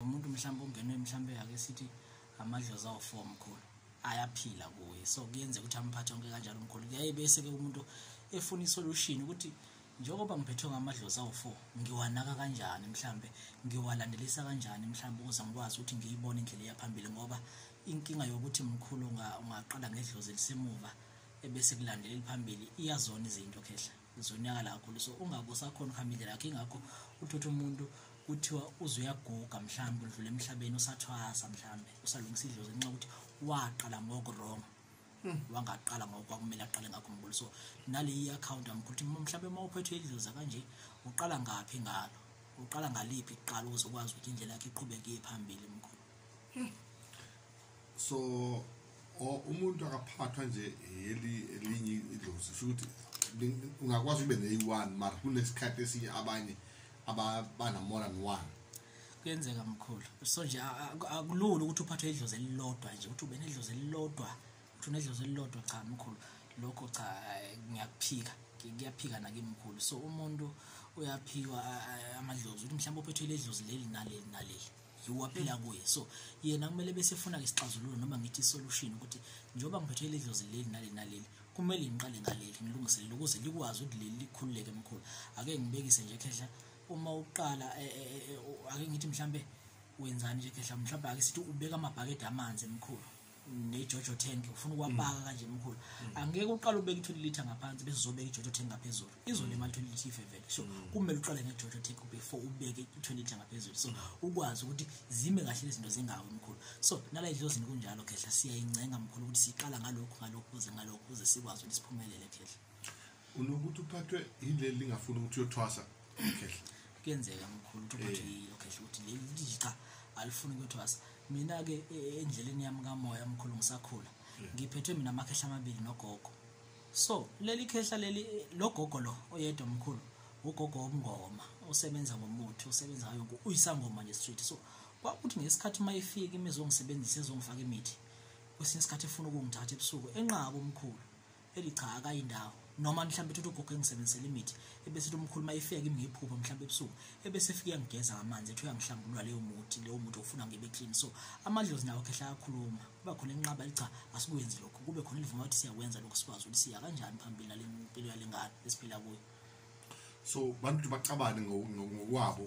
umuntu mhlawumbe ungenwe mhlawumbe ake sithi amadlozi awu-four mkhulu ayaphila kuye so kuyenzeka ukuthi amphathe onke kanjalo mkhulu kuyaye bese-ke umuntu efuna isolution ukuthi njengoba ngiphethwe ngamadlozi awu-four ngiwanaka kanjani mhlawumbe ngiwalandelisa kanjani mhlawumbe ukuze ngikwazi ukuthi ngiyibone indlela eyaphambili ngoba inkinga yokuthi mkhulu ungaqala ngedlozi elisemuva ebese kulandela eliphambili iyazona izinto khehla ngizonyakala kakhulu so ungabe usakhona ukuhamba indlela yakho ingakho uthotha umuntu kuthiwa uze uyaguga mhlawumbe udlule emhlabeni usathwasa mhlawumbe usalungisa idlozi ngenxa ukuthi waqala ngokurong hmm. wangaqala ngokwakumele aqale ngakho mbulu so nale i-akhawunti amkuthi mhlawumbe uma uphethwe idloza kanje uqala ngaphi ngalo uqala ngaliphi kuqala ukuze ukwazi ukuthi indlela yakhe iqhubeke iye phambili mkhulu hmm. so umuntu akaphathwa nje eli elinye idlozi sho ukuthi ungakwazi ube neyi-one mara kunesikhathi esinye abanye abanamore than one kuyenzeka mkhulu so nje akulula ukuthi uphathwe idlozi elilodwa nje ukuthi ube nedlozi elilodwa ukuthi unedlozi elilodwa cha mkhulu lokho cha ngiyakuphika kuyaphika nakimkhulu so umuntu uyaphikwa amadlozi ukuthi mhlawumbe uphethwe ledlozi leli naleli naleli waphila kuye so yena kumele bese efuna isixazululo noma ngithi isolution ukuthi njengoba ngiphethe leli dlozi leli naleli naleli kumele ngiqale ngaleli ngilungiselele ukuze likwazi ukuthi leli likhululeke mkhulu ake ngibekise nje khehla uma uqala e, e, e, ake ngithi mhlambe wenzani nje khehla mhlawumbe ake sithi ubeka amabhakede amanzi emkhulu nejojo tank ufuna ukwapaka mm. kanje mkhulu mm. angeke uqale ubeke i-20 litre ngaphansi bese uzobeka ijojo tank ngaphezulu izolimala i-20 litre ifevele so mm. kumele uqale ngejojo tank before ubeke i-20 litre ngaphezulu so ukwazi ukuthi zime kahle lezinto zingawi mkhulu so nala idlozini kunjalo khehla siyayincenga mkhulu ukuthi siqala ngalokhu ngalokhu kuze ngalokhu kuze sikwazi ukuthi siphumelele khehla unokuthi uphathwe yileli lingafuni ukuthi uyothwasa khehla kuyenzeka mkhulu ukuthi uphathwe eh. yilo khehla ukuthi leli liqa alifuni ukuyothwasa mina ke e, e, endleleni yami kamoya mkhulu ngisakhula hmm. ngiphethwe mina amakhehla amabili nogogo so leli khehla leli e, logogo lo oyedwa mkhulu ugogo womngoma usebenza ngomuthi usebenza ngayo yonke uyisangoma nje street so kwakuthi ngesikhathi uma ifika imizongisebenzisa ezongifaka imithi kwesinye isikhathi efuna ukungithatha ebusuku enqaba umkhulu eli cha akayi ndawo noma mhlawumbe uthi ugogo engisebenzisela imithi ebese uthi umkhuluma ifika kimi ngiphupha mhlawumbe ebusuku ebese efika uyangigeza ngamanzi ethi uyangihlambulula leyo muthi leyo muthi ofuna ngibe clean so amadlozi nawo khehla ayakhuluma kuba khona enqaba licha asikwenzi lokho kube khona elivuma ukuthi siyakwenza lokho sikwazi ukuthi siya kanjani phambili nale mpilo yalengane esiphila kuyo so bantu bacabane ngokwabo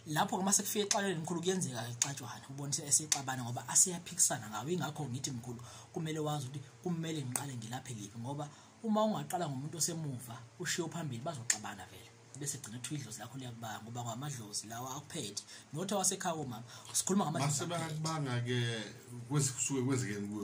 lapho-ke uma sekufika exalweni mkhulu kuyenzeka-ke kuxatshwana ubonise esexabana ngoba asiyaphikisana ngawo ingakho ngithi mkhulu kumele wazi ukuthi kumele ngiqale ngilaphe liphi ngoba uma ungaqala ngomuntu osemuva ushiye phambili bazoxabana vele bese gcina kuthiwa idlozi lakho liyakubanga ngoba ngamadlozi lawa akuphethe nothi wasekhaya komama sikhuluma ngamadlozi masebakubanga-ke kusuke kwenzekeni kuyo